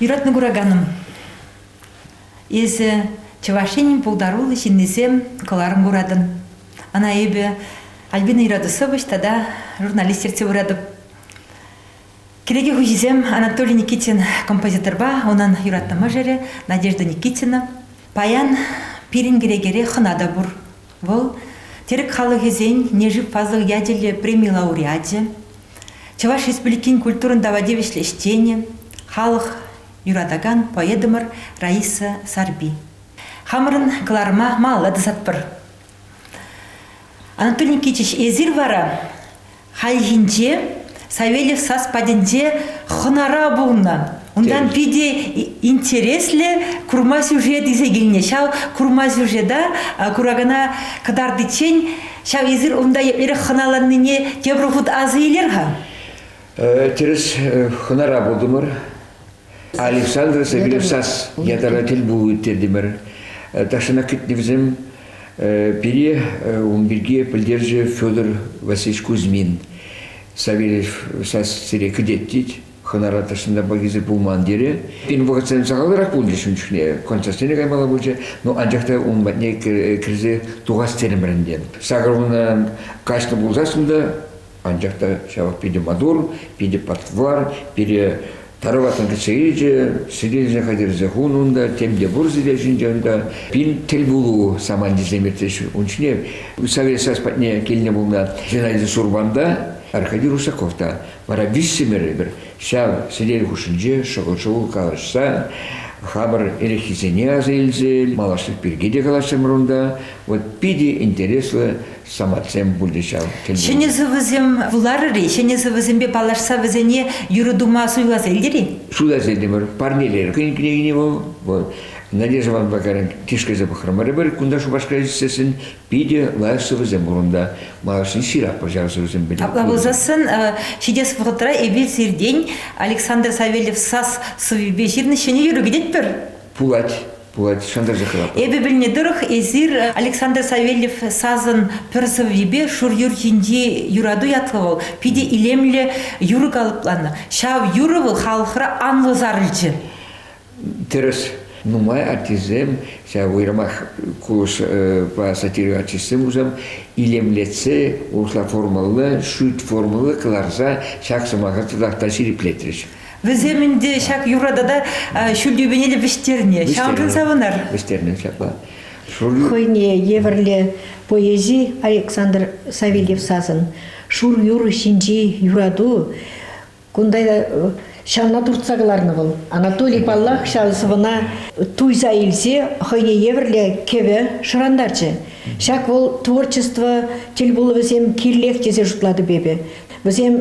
Юратнӑ кураканӑм, эсӗ Чӑваш Енӗн пултаруллӑ ҫыннисем кӑларӑм куратӑн. Ӑна эпӗ Альбина Ирадусович тата журналист ертсе пыратӑп. Кӗнеке хуҫисем Анатолий Никитин композиторпа унӑн юратнӑ мӑшӑрӗ Надежда Никитина. Паян пирӗн кӗнекере хӑна та пур. Вӑл терек халӑхӗсен Нежив фазлӑх ячӗллӗ преми лауреачӗ, Чӑваш Республикин культурӑн тава тивӗҫлӗ ӗҫченӗ, халӑх юратакан поэтӑмӑр Раиса Сарпи. Хамӑрӑн кӑларӑма малалла тӑсатпӑр. Анатолий Никитич, эсир вара хальхинче Савельев сас патӗнче хӑнара пулнӑ. Унтан питӗ интереслӗ курма сюжет илсе килнӗ. Ҫав курма сюжета куракана кӑтартиччен ҫав эсир унта эрех хӑналаннине тепӗр хут асӑ илер-ха. Тӗрӗс хӑнара пултӑмӑр. Александр Савельев сас ятара тӗл пулу ирттертӗмӗр. Тахҫанах кӗтнӗвсем пире ун пирки пӗлтерчӗ Федор Васильевич Кузьмин. Савельев сас сире кӗтет тет, хӑнара тӑрсында пакесе пулман терӗ. Пин вӑхӑтсем сахалрах пулчӗ ун чухне, концертсене каймалла пулчӗ, но анчах та ун патне кӗрсе тухас терӗмӗр ӗнтӗ. Сакӑр каҫнӑ пулсассӑн та Анчах та ҫавах питӗ маттур, питӗ патвар, пире тараватан кӗтсе илчӗ, сирӗлсе хатӗрсе хунӑ унта, тем те пур сире ҫинче унта. Пин тӗл пулу самантисем иртрӗҫ ун ҫине. Совет Союз патне килнӗ пулнӑ Геннадий Сурман та, Аркадий Русаков та, вара виҫсӗмӗр эпир ҫав сӗтел хушшинче шӑкӑл-шӑкӑл калаҫса хамӑр эреххисене аса илсе малашлӑх пирки те калаҫрӑмӑр унта. Вот питӗ интереслӗ самантсем пулӗ ҫав. Ҫӗнӗ сӑвӑсем вуларӑр-и? Ҫӗнӗ сӑвӑсемпе паллашса вӗсене юрӑ тума суйласа илтӗр-и? Суйласа илтӗмӗр. Парнелер хӑйӗн кӗнекине вӑл. Надежда Ивановна Вакарин тишкерсе пӑхрӑмӑрӑмӑр. Кунта Шупашкар ӗҫсессӗн питӗ лайӑх сӑвӑсем пур унта. Малашне ҫырап пӑр ҫав сӑвӑсем пӗлӳ. Апла пулсассӑн ҫитес вӑхӑтра эпир сиртен Александр Савельев сас сӑввипе ҫырнӑ ҫӗнӗ юрӑ кӗтетпӗр. Пулать. пулать шантарчӗ хӑватлӑх. Эпӗ пӗлнӗ тӑрӑх эсир Александр Савельев сасӑн пӗр сӑввипе Шур юр ҫинчи юрату ятлӑ вӑл питӗ илемлӗ юрӑ калӑпланӑ. Ҫав юрӑ вӑл халӑхра анлӑ сарӑлчӗ. Тӗрӗс. Нумай артистсем, ҫав уйрӑмах кулӑшпа сатира артистсем пулсан, илемлетсе, урӑхла формӑллӑ, шӳт формӑллӑ кӑларса ҫак сӑмаха татах та ҫирӗплетрӗҫ. Вӗсем ӗнтӗ ҫак юра тата ҫул тӳпене те вӗҫтернӗ. Ҫавӑншӑн савӑнар. Вӗҫтернӗ ҫапла. Хӑйне евӗрлӗ поэзи Александр Савельев сасӑн. Шур юр ҫинчи юрату кунта ҫавна туртса кӑларнӑ вӑл. Анатолий, паллах, ҫав сӑвӑна туйса илсе хӑйне евӗрлӗ кӗвӗ шӑрантарчӗ. Ҫак вӑл творчество тӗл пулӑвӗсем кирлех тесе шутлатӑп эпӗ. Вӗсем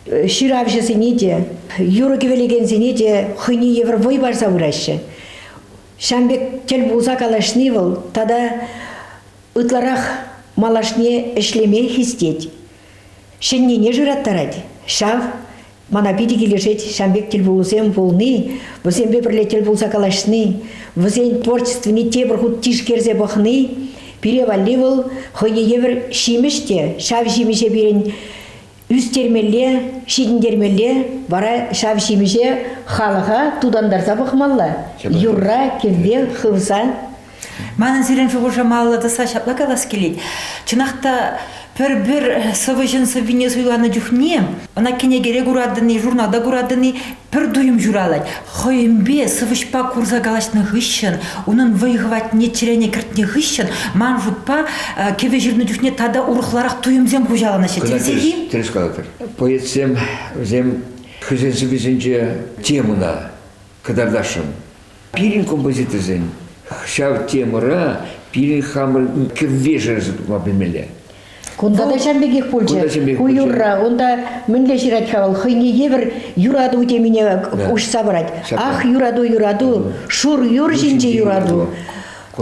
ҫыравҫӑсене те, юрӑ-кӗвӗлекенсене те хӑйне евӗр вӑй парса пыраҫҫӗ. Ҫан пек тӗл пулса калаҫни вӑл тата ытларах малашне ӗҫлеме хистет. Ҫӗннине шыраттарать. Ҫав мана питӗ килӗшет ҫан пек тӗлпулусем пулни, вӗсемпе пӗрле тӗл пулса калаҫни, вӗсен творчествине тепӗр хут тишкерсе пӑхни пире валли вӑл хӑйне евӗр ҫимӗҫ те, ҫав ҫимӗҫе пирӗн ӳстермелле, ҫитӗнтермелле, вара ҫав ҫимӗҫе халӑха тутантарса пӑхмалла. Юрра, кӗвве хывса. Манӑн сирӗн шухӑша малалла тӑсса ҫапла калас килет. Чӑнах та пӗр-пӗр сӑвӑҫӑн сӑввине суйланӑ чухне ӑна кӗнекере куратӑн-и, журналта куратӑн-и Пӗр туйӑм ҫуралать. Хӑйӗнпе сӑвӑҫпа курса калаҫнӑ хыҫҫӑн, унӑн вӑй-хӑватне чӗрене кӗртнӗ хыҫҫӑн, ман шутпа, кӗвӗ ҫырнӑ чухне тата урӑхларах туйӑмсем хуҫаланаҫҫӗ. Тӗрӗсех-и? Тӗрӗс калатӑр. Поэтсем вӗсем хӑйсен сӑввисенче темӑна кӑтартасшӑн. Пирӗн композиторсен ҫав темӑра пирӗн хамӑр кӗввешерсе тухма пӗлмелле. Кунта та ҫав пекех пулчӗ. Ку юрра унта мӗнле ҫырать-ха вӑл? Хӑйне евӗр юрату темине уҫса парать. Ах, юрату, юрату, шур юр ҫинче юрату.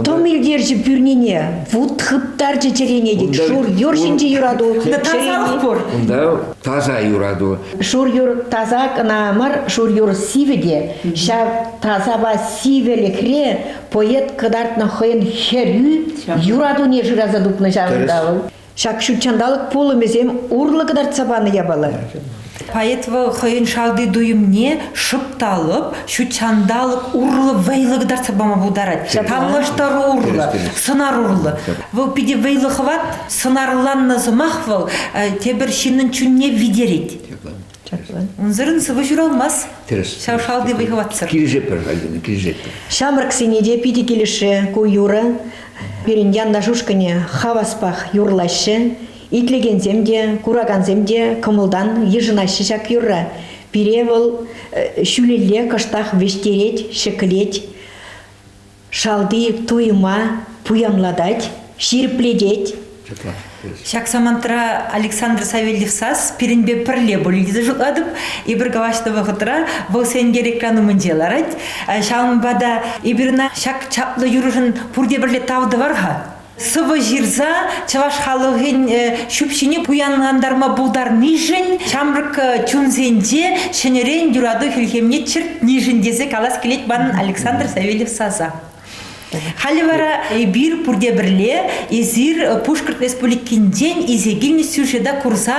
Тӑм илтерчӗ пӳрнине, вут хыптарчӗ чӗрене, тет. Шур юр ҫинчи юрату чӗрене. пур. Унта таса юрату. Шур юр таса кӑна мар, шур юр сивӗ те. Ҫав тасапа сивӗлӗхре поэт кӑтартнӑ хӑйӗн хӗрӳ юратуне шыраса тупнӑ ҫавӑнта вӑл. Ҫак ҫутҫанталӑк пулӑмӗсем урлӑ кӑтартса панӑ япала. Поэтова хӑйӗн шалти туйӑмне шӑпталӑп, ҫутҫанталӑк урлӑ вӑйлӑ кӑтартса пама пултарать. Танлаштару урлӑ, сӑнар урлӑ. Вӑл питӗ вӑйлӑ хӑват, сӑнарланнӑ сӑмах вӑл тепӗр ҫыннӑн чунне витерет. Чаплӑ. Унсӑрӑн сывӑ ҫуралмасть. Тӗрӗс. Ҫав шалти вӑй-хӑватсӑр. Килӗшетпӗр, Альбина, килӗшетпӗр. Ҫамрӑксене те питӗ килӗшрӗ ку юрӑ. Пирӗн янаш ушкӑнӗ хаваспах юрлаҫҫӗ. Итлекенсем те, куракансем те кӑмӑлтан йышӑнаҫҫӗ ҫак юрра. Пире вӑл ҫӳлелле кӑштах вӗҫтерет, ҫӗклет. Шалти туйӑма пуянлатать, ҫирӗплетет. Ҫак самантра Александр Савельев САС пирӗнпе пӗрле пулнине шутлатӑп. Эпир калаҫнӑ вӑхӑтра вӑл сенкер экран умӗнче ларать. Ҫавӑнпа та эпир ӑна ҫак чаплӑ юрӑшӑн пурте пӗрле тав тӑвар-ха. сӑвӑ ҫырса чӑваш халӑхӗн ҫӳпҫине пуянлантарма пултарнишӗн ҫамрӑк чунсенче ҫӗнӗрен юрату хӗлхемне чӗртнишӗн тесе калас килет манӑн Александр Савельев саса. Халӗ вара эпир пурте пӗрле эсир Пушкӑрт Республикинчен исе килнӗ сюжета курса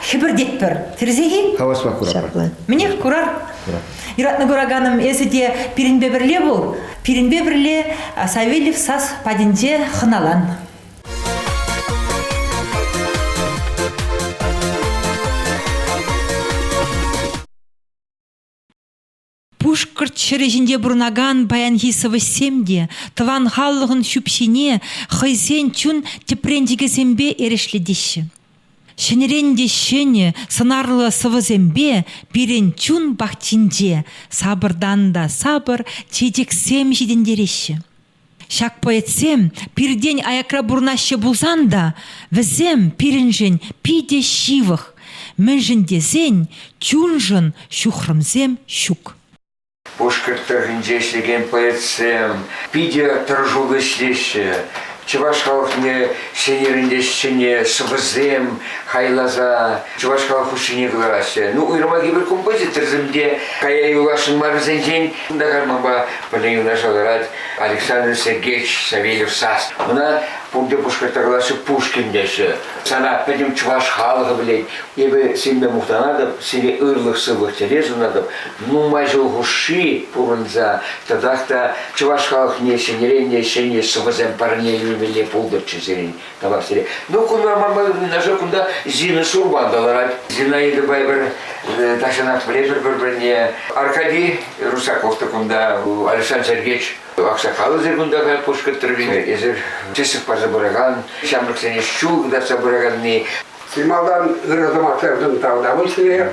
хӗпӗртетпӗр. Тӗрӗсех-и? Хаваспах курар. Мӗнех курар. Курар. Юратнӑ кураканӑм, эсӗ те пирӗнпе пӗрле пул. Пирӗнпе пӗрле Савельев сас патӗнче хӑналан. Пушкӑрт ҫӗрӗ ҫинче пурӑнакан паянхи сӑвӑҫсем те тӑван халӑхӑн ҫӳпҫине хӑйсен чун тӗпренчӗкӗсемпе эрешлетеҫҫӗ. Ҫӗнӗрен те ҫӗнӗ сӑнарлӑ сӑвӑсемпе пирӗн чун пахчинче сапӑртан та сапӑр чечексем ҫитӗнтереҫҫӗ. Ҫак поэтсем пиртен аякра пурӑнаҫҫӗ пулсан та, вӗсем пирӗншӗн питӗ ҫывӑх, мӗншӗн тесен чуншӑн ҫухрӑмсем ҫук. Пушкӑрт тӑрӑхӗнче ӗҫлекен поэтсем питӗ тӑрӑшуллӑ ӗҫлеҫҫӗ. Чӑваш халӑхне ҫӗнӗрен ҫӗнӗ сӑвӑсем хайласа чӑваш халӑх хушшине кӑлараҫҫӗ. Ну, уйрӑмах эпир композиторсем те кая юласшӑн мар вӗсенчен. Кунта карманпа пӗлен юнашар тӑрать Александр Сергеевич Савельев сас. Ӑна пурте пушкӑртла калаҫҫӗ Пушкин теҫҫӗ. Сана пӗтӗм чӑваш халӑхӗ пӗлет. Эпӗ сире мухтанатӑп, сире ырлӑх-сывлӑх телей сунатӑп. нумай ҫул хушши пурӑнса тӑтах та чӑваш халӑхне ҫӗнӗрен ҫӗнӗ сӑвӑсем парне илмелле пултӑрччӗ сирӗн тавах сире. Ну, кунта Мамадовный нашел, кунта Зина Шурбан та ларать. Зинаидӑпа эпир э, тахҫанах пӗлетпӗр пӗр-пӗрне. Аркадий Русаков та кунта, Александр Сергеевич аксакалӗсӗр кунта та пушкӑттӑр. Эсир тӗслӗх парса пыракан, ҫамрӑксене ҫул кӑтартса пыраканни. Чи малтан ырӑ сӑмахсемшӗн тав тӑвӑн сире.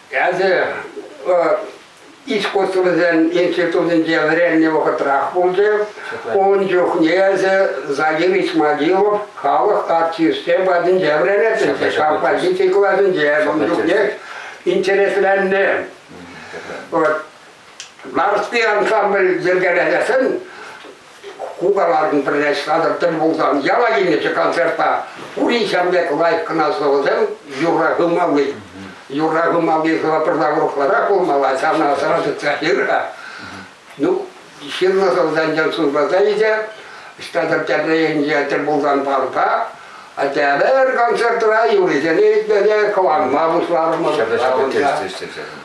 Эсӗ искусствӑсен институтӗнче вӗреннӗ вӑхӑтрах пулчӗ. Ун чухне эсӗ Загирич Могилов халӑх артисчӗ патӗнче вӗренетӗн, композици класӗнче ун чухне интересленнӗ. Вот Нарспи ансамбль йӗркелесен Ку калатӑн пӗрле ҫыхатӑр тӗл пулсан яла килнӗччӗ концертта. Пурин ҫав пек лайӑх кӑна сӑвӑсем юрра хывмалли. Юрра хывмалли сӑвӑ пӗрла урӑхларах пулмалла, ҫавна сӑра тытса ҫырӑр. Ну, ҫырнӑ сӑвӑсенчен суйласа илсе Ҫтатӑр Тяпрейӗнче тӗл пулсан парка Атявер концертра юрисене итлесе кӑларма пуҫларӑмӑр.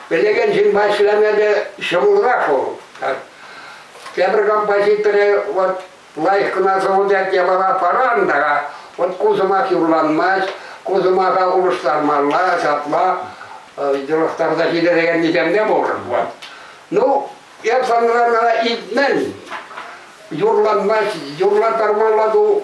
Пелекен ҫынпа ӗҫлеме те ҫӑмӑлрах вӑл. Тепӗр компа хитре, вот лайӑх кӑна сӑвӑтать япала паран та, вот ку сӑмах юрланмасть, ку сӑмаха улӑштармалла, ҫапла йӑлӑхтарса ҫитерекеннисем те пур. Вот. Ну, я санрана илтмен. Юрланмасть, юрлатармалла ту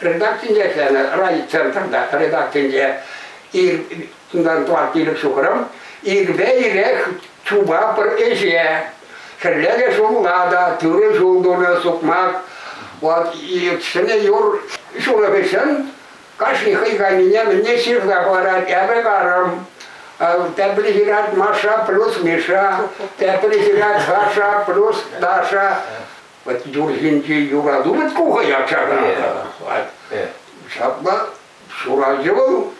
Редакцинче ӗҫленӗ райцентрта редакцинче унтан тӑван пилӗк ҫухрӑм ирпе ирех чупа пӗр ӗҫе хӗлле те ҫулла та тӳрӗ ҫул тунӑ сукмак вот ҫӗнӗ юр ҫунӑ хыҫҫӑн кашни хӑй кайнине мӗнне ҫырса хӑварать эпӗ карӑм тепри ҫырать Маша плюс Миша тепри ҫырать Саша плюс Даша Вот юрхинчи юра тумать кухая чакана. Ҫапла ҫураҫҫӗ вӑл.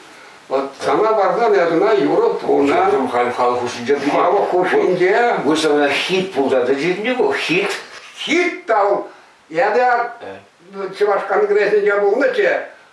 Вот сана парсан ятына юрӑ тунӑ. Ҫуртым халь хал хушинче тупа. Халӑх хушинче. Высована хит пултарdı ҫитнӗ ку, хит. Хит тал. Эпӗ Чӑваш конгресӗнче пулнӑччӗ.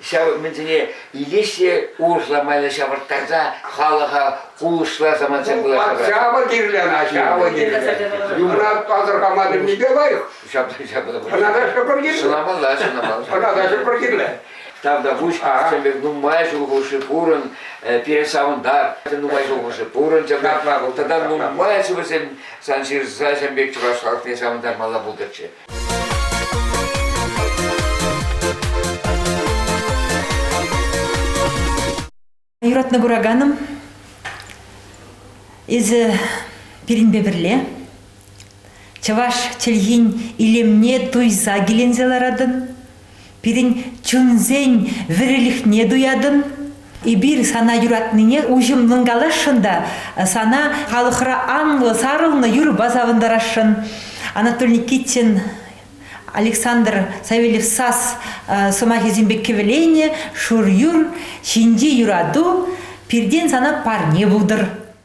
ҫав умӗнсене илес те урӑхла майлӑ ҫавӑрттарса халӑха кулӑшласа мансем пуласса. Ҫавӑ кирлӗ, ҫавӑ кирлӗ. Юмрат пасӑрхама пӗлнипе лайӑх. Ҫапла, ҫапла. Ӑна кашни пӗр кирлӗ. Сӑнамалла, сӑнамалла. Ӑна кашни пӗр кирлӗ. Там та пуҫ, сӗмпер нумай ҫул хушши пурӑн, пире савӑнтар, нумай ҫул хушши пурӑн, тата нумай ачу вӗсем сан ҫырса ҫӗм пек чӑваш халӑхне савӑнтармалла пултӑрччӗ. Юратнӑ кураканӑм, эсӗ пирӗнпе пӗрле чӑваш чӗлхин илемне туйса киленсе ларатӑн, Пирӗн чунсен вӗрилӗхне туятӑн. Эпир сана юратнине уҫӑмлӑн каласшӑн та сана халӑхра анлӑ сарӑлнӑ юрӑпа савӑнтарасшӑн. Анатолий Никитин Александр Савельев САС э, сӑмахӗсемпе кӗвӗленӗ «Шур юр ҫинчи юрату пиртен сана парне пултӑр».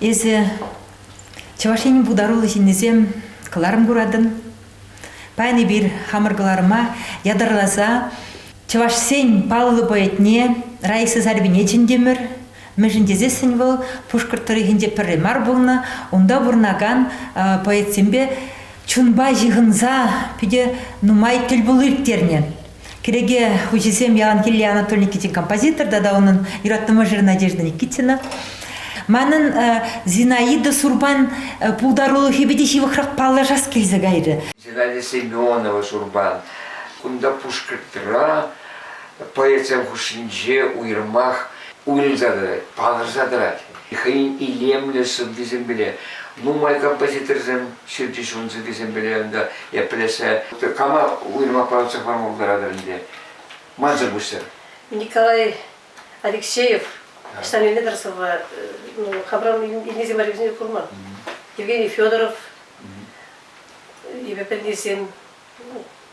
Эсӗ Чӑваш Енӗн пултаруллӑ ҫыннисем кӑларӑм куратӑн. Паян эпир хамӑр кӑларӑма ятарласа чӑвашсен паллӑ поэтне Раиса Сарьбине чӗнтӗмӗр. Мӗншӗн тесессӗн вӑл Пушкӑрт тӑрӑхӗнче пӗрре мар пулнӑ, унта пурӑнакан поэтсемпе чунпа ҫыхӑнса питӗ нумай тӗл пулу ирттернӗ. Кӗреке хуҫисем Еланкелле Анатолий Никитин композитор тата унӑн юратнӑ мӑшӑрӗ Надежда Никитина. Манӑн Зинаида Сурпан пултарулӑхӗпе те ҫывӑхрах паллашас килсе кайрӗ. Зинаида Семенова Сурпан кунта Пушкӑртра поэтсем хушшинче уйрӑмах уйрӑлса тӑрать, палӑрса тӑрать. хӑйӗн илемлӗ сӑввисемпеле, нумай композиторсем ҫырчӗҫ ӑнсӑркисемпеле ӑнта еплесе кама уйрӑмах парӑнса хӑварма пултаратӑр ӗнтӗ. Мансӑр пуҫсӑр. Николай Алексеев ӑҫтан илнӗ-тӗр сӑвва ну, хабран илнисем валли вӗсене курман. Евгений Федоров, Еве пӗлнисем,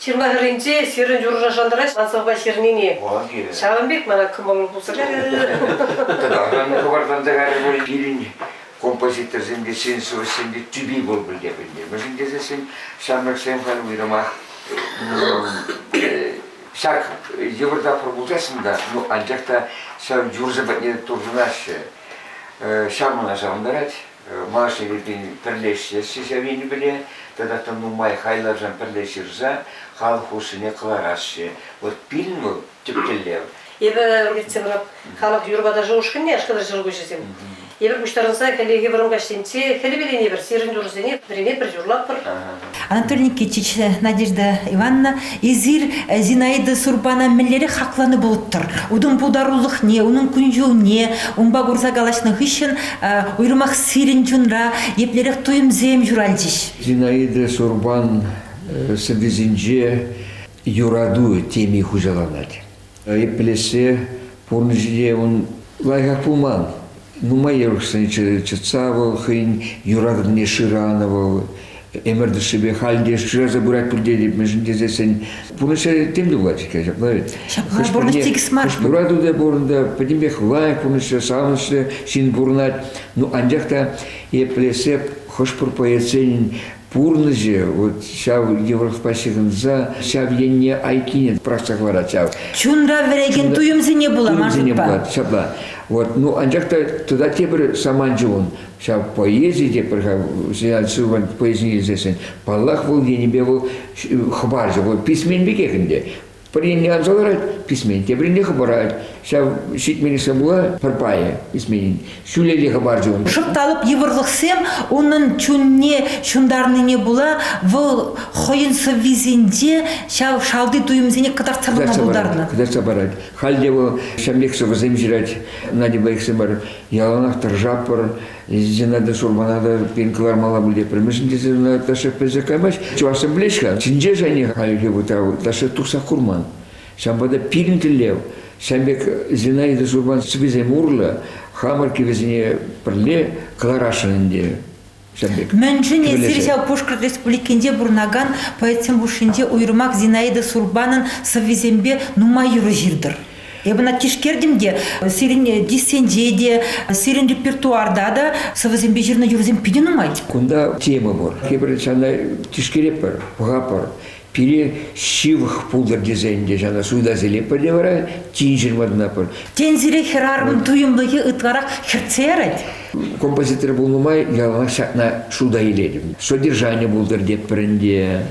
Ҫырма хӗрринче ҫырӑн юрӑшна шантарать Асӑвпа ҫырнине. Вӑл килӗ. Ҫавӑн пек мана кӑмӑллӑ пулса Аран хӑвартланса кайрӗ пулин пирӗн композиторсемпе сен солистсемпе тӳпи пур пӗлтернӗ. Мӗншӗн тесен ҫамрӑксем халь уйрӑмах ҫак йывӑр тапхӑр пулсассӑн та, ну, анчах та ҫав юрӑсем патне туртӑнаҫҫӗ. Ҫав мана савӑнтарать. Маша Юртин пӗрлештерсчӗ ҫав енӗпеле тата тӑм нумай хайлавсем пӗрле ҫырса халӑх хушшине кӑларасчӗ. Вӑт пилн вӑл тӗп тӗллев. Эпӗ иртсе пырап халӑх юр-ваташӗ ушкӑнне, Ашкӑтар ҫӑлкуҫӗсем. Эпир пуҫтарӑнса хӗллехи вӑрӑм каҫсенче хӗл перенепӗр сирӗн юрӑсене пӗринепӗр юрлатпӑр. Анатолий Никитич, Надежда Ивановна, эсир Зинаида Сурпана мӗнлерех хакланӑ пулӑттӑр? Унӑн пултарулӑхне, унӑн кун-ҫулне унпа курса калаҫнӑ хыҫҫӑн уйрӑмах сирӗн чунра еплерех туйӑмсем ҫуралчӗҫ? Зинаида Сурпан сӑввисенче юрату теми хуҫаланать. Айӑплесе пурнӑҫӗ ун лайӑхах пулман. Нумай йӑрӑхсен чӑтса вӑл хӑйӗн юратӑвне шыранӑ вӑл. Ӗмӗр тӑшшипе халь те шыраса пырать пуль тетӗп, мӗншӗн тесессӗн пурнӑҫа тем тумлать иккен. Ҫапла вӗт. Ҫапла пурнӑҫ тикӗс мар. Хӑш юрату та пур унта, пӗтӗмпех лайӑх пурнӑҫлӑ, савӑнӑҫлӑ ҫын пурӑнать. Ну, анчах та еплесе хӑш-пӗр поэтсен пурнӑҫӗ вот ҫав йывӑрлӑхпа ҫыхӑнса ҫав енне айккине пӑрахса хӑварать ҫав. Чунра вӗрекен туйӑмсене пула маршрутпа. Ҫапла. Вот, ну анчах та тата тепӗр саманчӗ ун. Ҫав поэзи те пӗр-ха, Сенат Силван поэзине илсессӗн, паллах, вӑл енӗпе вӑл хӑпарчӗ. Вӑл писмен пекех ӗнтӗ. Пӗринне анса ларать, писмен. Тепринне хӑпарать. Ҫав ҫитменлӗхсем пула пӗр пайӗ писменин. Ҫӳлелле хӑпарчӗ ун. Шӑпталӑп йывӑрлӑхсем унӑн чунне ҫунтарнине пула вӑл хӑйӗн сӑввисенче ҫав шалти туйӑмсене кӑтартса пама пултарнӑ. Кӑтартса парать. Халь те вӑл ҫамрӑк сӑвӑсем ҫырать. Надя Байксем бар. Яланах тӑршаппӑр. Езина де Шурмана та пин кӑлармалла пуль тепремӗшӗн тесе ӑна ташша пӗлсе каймасть. Чӑвашсем пӗлеҫ-ха, чинче шайне хальхи вӑтав ташша тухса курман. Ҫавӑнпа та пирӗн тӗллев, ҫавӑн пек Зинаида Шурман сӑвисем урлӑ хамӑр кӗвӗсене пӗрле кӑларасшӑн ӗнтӗ. Ҫавӑн пек. Мӗншӗн эсир ҫав Пушкӑрт Республикинче пурӑнакан поэтсем хушшинче уйрӑмах Зинаида Сурбанӑн сӑввисемпе нумай юрӑ ҫыртӑр? Эпӗ ӑна тишкертӗм те сирӗн э, диссенче те, сирӗн репертуарта та сӑвӑсемпе ҫырнӑ юрӑсем питӗ нумай. Кунта тема пур. Эпир ҫавна тишкеретпӗр, пӑхатпӑр. Пире ҫывӑх пултӑр тесен те ҫавна суйласилетпӗр те вара тин ҫырматӑнапӑр. Тен, сире хӗрарӑмӑн туйӑмлӑхӗ ытларах хӗртсе ярать? Композитор пулнӑ май яланах ҫакна шута илетӗп. Содержани пултӑр тетпӗр ӗнтӗ.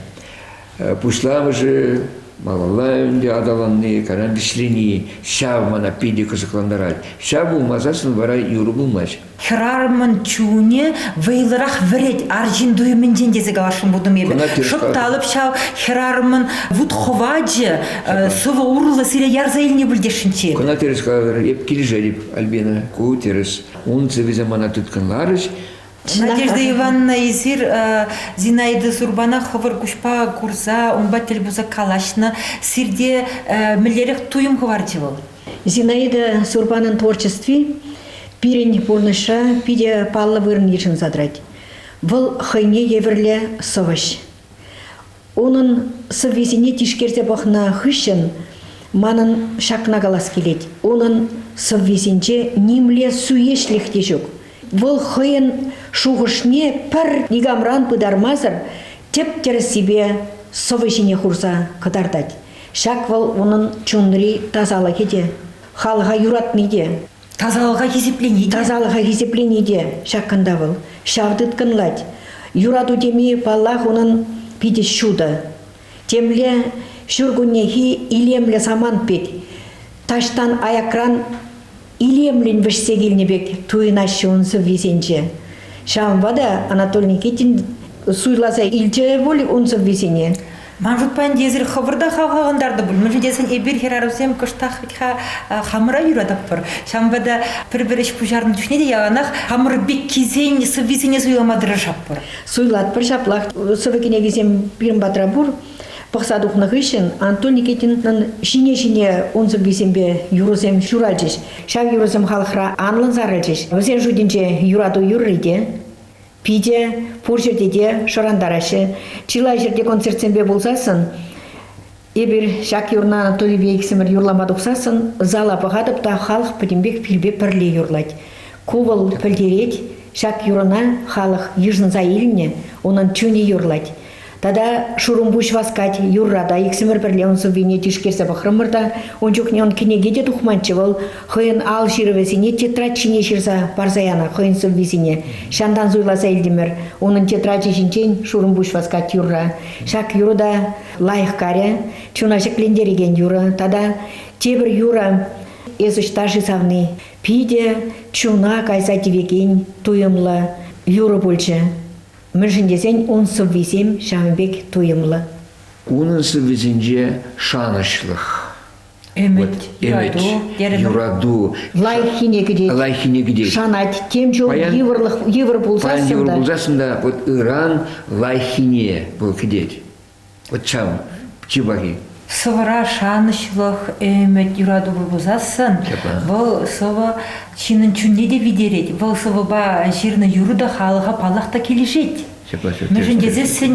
Пуҫламӑшӗ малалла ӗнтӗ аталанни, карам вӗҫлени, ҫав мана питӗ кӑсӑклантарать. Ҫав пулмасассӑн вара юрӑ пулмасть. Хӗрарӑмӑн чунӗ вӑйлӑрах вӗрет арҫын туйӑмӗнчен тесе каласшӑн пултӑм эпӗ. Шӑпталӑп ҫав хӗрарӑмӑн вут-хӑвачӗ, сывӑ урлӑ сире ярса илни пӗлтесшӗнччӗ. Кӑна тӗрӗс калатӑр, эп килӗшетӗп, Альбина, ку тӗрӗс. Ун сӑввисем мана тыткӑнларӗҫ. Надежда Ивановна, эсир Зинаида Сурбана хӑвӑр куҫпа курса, унпа тӗл пулса калаҫнӑ. Сирте мӗнлерех туйӑм хӑварчӗ вӑл? Зинаида Сурбанӑн творчестви пирӗн пурнӑҫра питӗ паллӑ вырӑн йышӑнса тӑрать. Вӑл хӑйне евӗрлӗ сӑвӑҫ. Унӑн сӑввисене тишкерсе пӑхнӑ хыҫҫӑн манӑн ҫакна калас килет. Унӑн сӑввисенче нимле суеҫлӗх те ҫук. Вӑл хӑйӗн шухӑшне пӗр никамран пытармасӑр тӗп-тӗрӗссипе сӑвӑ ҫине хурса кӑтартать. Ҫак вӑл унӑн чунри тасалӑхӗ те, халӑха юратни те. Тасалӑха хисеплени. Тасалӑха хисеплени те ҫак кунта вӑл. Ҫав тыткӑнлать. Юрату теми, паллах, унӑн питӗ ҫутӑ. Темле ҫуркуннехи илемлӗ самант пек, таҫтан аякран илемлӗн вӗҫсе килнӗ пек туйӑнаҫҫӗ ун сӑввисенче. Ҫавӑнпа та Анатолий Никитин суйласа илчӗ пуль ун сӑввисене. Ман шутпа ӗнтӗ эсир хӑвӑр та хавхалантартӑр пуль, мӗншӗн тесен эпир хӗрарӑмсем кӑштах вӗт ха хамӑра юратӑпӑр. Ҫавӑнпа та пӗр-пӗр ӗҫ пуҫарнӑ чухне те яланах хамӑр пеккисен сӑввисене суйлама тӑрӑшатпӑр. Суйлатпӑр ҫаплах. Сӑвӑ кӗнекисем пирӗн патра пур. Пӑхса тухнӑ хыҫҫӑн Антон Никитинӑн ҫине-ҫине ун сӑввисемпе юрӑсем ҫуралчӗҫ. Ҫав юрӑсем халӑхра анлӑн сарӑлчӗҫ. Вӗсен шутӗнче юрату юрри те, Питӗ пур ҫӗрте те шӑрантараҫҫӗ. Чылай ҫӗрте концертсемпе пулсассӑн, эпир ҫак юрна Анатолийпе иксӗмӗр юрлама тухсассӑн зала пӑхатӑп та халӑх пӗтӗмпех пилпе пӗрле юрлать. Ку вӑл пӗлтерет, ҫак юрӑна халӑх йышӑнса илнӗ, унӑн чунӗ юрлать. Тата шурӑмпуҫ васкать, юрра та иксӗмӗр пӗрле ун сӑввине тишкерсе пӑхрӑмӑр та ун чухне ун кӗнеке те тухманччӗ вӑл хӑйӗн ал ҫырӑвӗсене тетрадь ҫине ҫырса парса янӑ хӑйӗн сӑввисене. Ҫантан суйласа илтӗмӗр унӑн тетрачӗ ҫинчен шурӑмпуҫ васкать юрра. Ҫак юрӑ та лайӑх карӗ, чуна ҫӗклентерекен юрӑ тата тепӗр юрӑ эс ӑҫта-ши савни питӗ чуна кайса тивекен туйӑмлӑ юрӑ пулчӗ. мӗншӗн тесен ун сӑввисем ҫавӑн пек туйӑмлӑ. Унӑн сӑввисенче шанӑҫлӑх, ӗмӗт, ӗмӗт юрату, лайӑххине кӗтет, лайӑххине кӗтет, шанать, тем чул паян, йывӑрлӑх, йывӑр пулсассӑн паян йывӑр та, пулсассӑн та вот ыран лайӑххине вӑл кӗтет. Чав, чи пахи. Сӑвӑра шанӑҫлӑх, ӗмӗт, юратупа пусассӑн вӑл сӑвӑ ҫыннӑн чунне те витерет. Вӑл сӑвӑпа ҫырнӑ юрӑ та халӑха паллах та килӗшет. Мӗншӗн тесессӗн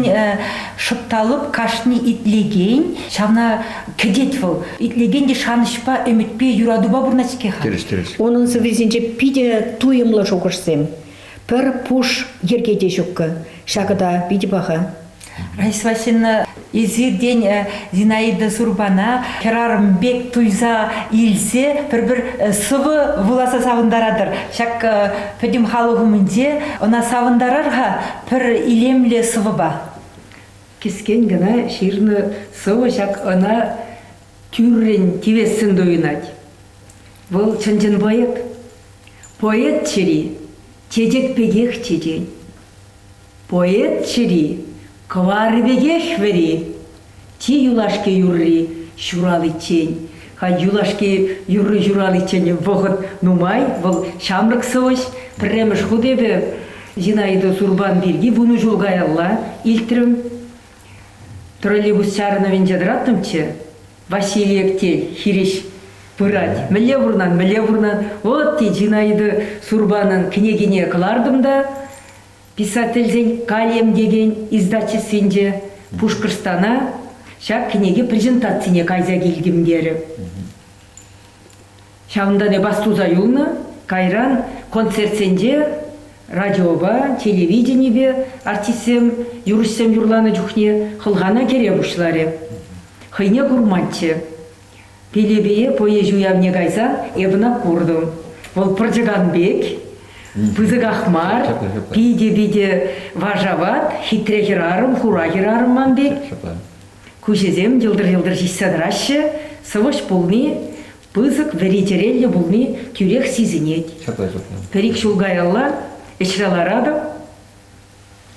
шӑпталӑп кашни итлекен, ҫавна кӗтет вӑл. Итлекен те шанӑҫпа, ӗмӗтпе, юратупа пурӑнать-ҫке-ха. Тӗрӗс, тӗрӗс. Унӑн сӑввисенче питӗ туйӑмлӑ шухӑшсем. Пӗр пуш йӗрке те ҫуккӑ. Ҫакӑ та питӗ паха. Раисла ҫынна эсир тен э, Зинаида Сурпана хӗрарӑм пек туйса илсе пӗр-пӗр э, сывӑ вуласа савӑнтаратӑр. Ҫак э, пӗтӗм халӑх умӗнче ӑна савӑнтарар-ха пӗр илемле сӑвӑпа. Кӗскен кӑна ҫырнӑ сӑвӑ ҫак ӑна тӳррӗн тивессӗн туйӑнать. Вӑл чӑн-чӑн поэт. Поэт чӗри чечек пекех чечен. Поэт чӗри, кӑварӗ пекех вӗри. Чи юлашки юрри ҫураличчен. Юлашки юрри ҫураличчен вӑхӑт нумай, вӑл ҫамрӑк сӑвӑҫ. Пӗрремӗш хут эпӗ Зинаида Сурпан пирки вунӑ ҫул каялла илтрӗм. Троллейбус чарӑнӑвӗнче тӑраттӑмччӗ. Василий Эктей хирӗҫ пырать. Мӗнле пурӑнан, мӗнле пурӑнан? Вӑт, тет Зинаида Сурпанӑн кӗнекине кӑлартӑм та Писательсен кальем текен издательствинче Пушкӑртстана ҫак кӗнеке презентацине кайса килтӗм терӗ. Ҫавӑнтан эпас туса юлнӑ, кайран концертсенче радиопа, телевиденипе артистсем юрӑҫсем юрланӑ чухне хӑлхана кӗре пуҫларӗ. Хӑйне курманччӗ. Пелепее пӑйӑҫ уявне кайсан эп ӑна куртӑм. Вӑл пӑрчӑкан пек, пысӑках мар, питӗ-питӗ вашават, хитре хӗрарӑм, хура хӗрарӑм ман пек. Куҫӗсем йӑлтӑр-йӑлтӑр ҫиҫсе тӑраҫҫӗ, сӑвӑҫ пулни, пысӑк вӗри чӗреллӗ пулни тӳрех сисӗнет. Пӗр-ик ҫул каялла ӗҫре ларатӑп.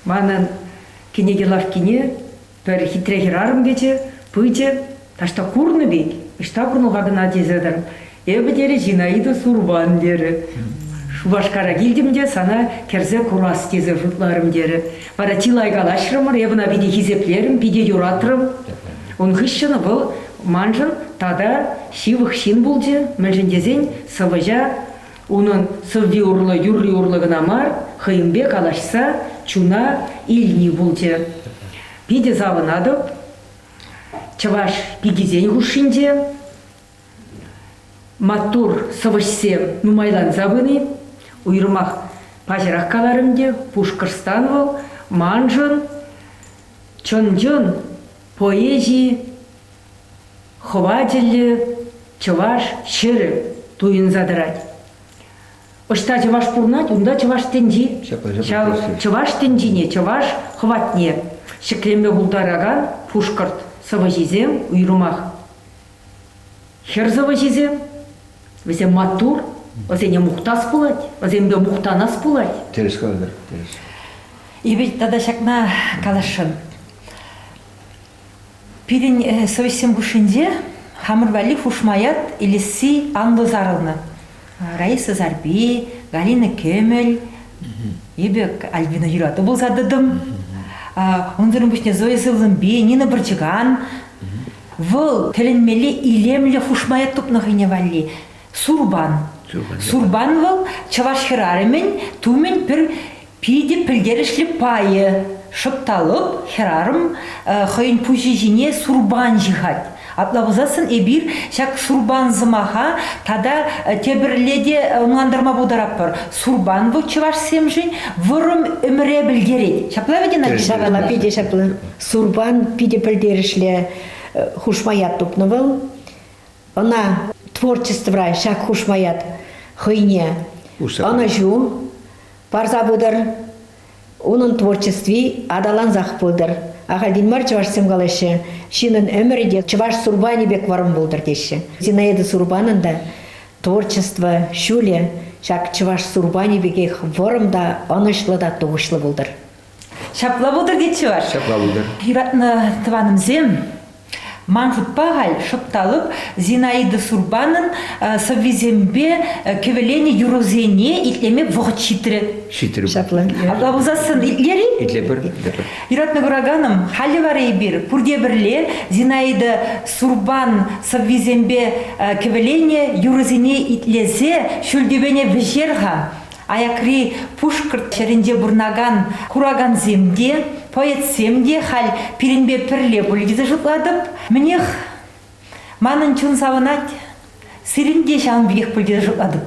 Манӑн кӗнеке лавккине пӗр хитре хӗрарӑм кӗчӗ, пычӗ, таҫта курнӑ пек, ӑҫта курнӑ-ха кӑна тесе тӑр. Эпӗ, терӗ, Зинаида Сурбан, терӗ. Шупашкара килтӗм те сана кӗрсе курас тесе шутларӑм, терӗ. Вара чылай калаҫрӑмӑр, эпӗ ӑна питӗ хисеплерӗм, питӗ юратрӑм. Ун хыҫҫӑн вӑл маншӑн тата ҫывӑх ҫын пулчӗ, мӗншӗн тесен сӑвӑҫа Унӑн сӑвви урлӑ юрри урлӑ кӑна мар, хӑйӗнпе калаҫса чуна илни пулчӗ. Питӗ савӑнатӑп чӑваш пикисен хушшинче маттур сӑвӑҫсем нумайланса пыни. Уйрӑмах паҫӑрах каларӑм те, Пушкӑртстан вӑл маншӑн чӑн-чӑн поэзи Хӑватиллӗ чӑваш ҫӗрӗ туйӑнса тӑрать. Ӑҫта чӑваш пурӑнать, унта чӑваш тӗнчи. Ҫав чӑваш тӗнчине, чӑваш хӑватне ҫӗклеме пултаракан пушкӑрт сӑвӑҫисем уйрӑмах. Хӗр сӑвӑҫисем, вӗсем маттур, вӗсене мухтас пулать, вӗсемпе мухтанас пулать. Тӗрӗс калатӑр, тӗрӗс. И тата ҫакна каласшӑн. Пирӗн совеҫсем хушшинче хамӑр валли хушма ят илесси анлӑ сарӑлнӑ. Раиса Сарпи, Галина Кемель, эпӗ Альбина юрату пулса тӑтӑм. Унсӑрӑн пуҫне Зоя Сывлӑмпи, Нина Пӑрчӑкан. Вӑл тӗлӗнмелле илемлӗ хушма ят тупнӑ хӑйне валли. Сурбан. Сурбан вӑл чӑваш хӗрарӑмӗн тумӗн пӗр Питӗ пӗлтерӗшлӗ пайӗ. Шӑпталӑк, хӗрарӑм хӑйӗн пуҫӗ ҫине сурпан ҫыхать. Апла пулсассӑн эпир ҫак сурпан сӑмаха тата тепӗрле те ӑнлантарма пултаратпӑр. Сурпан вӑл чӑвашсемшӗн вӑрӑм ӗмӗре пӗлтерет. Ҫапла вӗт, Надежда? Ҫавна питӗ ҫапла. Сурпан питӗ пӗлтерӗшлӗ хушма ят тупнӑ вӑл. Ӑна творчествӑра ҫак хушма ят хӑйне ӑнӑҫу, парса пытӑр. Унӑн творчестви аталансах пытӑр. Ахальтен мар чӑвашсем калаҫҫӗ, ҫынӑн ӗмӗрӗ те чӑваш сурпанӗ пек варӑн пултӑр теҫҫӗ. Зинаида Сурпанӑн та творчество ҫулӗ ҫак чӑваш сурпанӗ пекех вӑрӑм та ӑнӑҫлӑ та тухӑҫлӑ пултӑр. Ҫапла пултӑр тетчӗ ваш. Ҫапла пултӑр. Юратнӑ тӑванӑмсем, ман шутпа халь шӑпталӑк Зинаида Сурбанӑн сӑввисемпе кӗвӗленӗ юрӑсене итлеме вӑхӑт ҫитрӗ. Ҫитрӗ. Ҫапла. Апла пулсассӑн итлер-и? Итлепӗр. Юратнӑ кураканӑм, халӗ вара эпир пурте пӗрле Зинаида Сурбан сӑввисемпе кӗвӗленӗ юрӑсене итлесе ҫӳл тӳпене вӗҫер-ха. Аякри Пушкӑрт ҫӗрӗнче пурӑнакан куракансем те, поэтсем те халь пирӗнпе пӗрле пулӗ тесе шутлатӑп. Мӗнех, манӑн чун савӑнать. Сирӗн те ҫавӑн пекех пуль тесе шутлатӑп.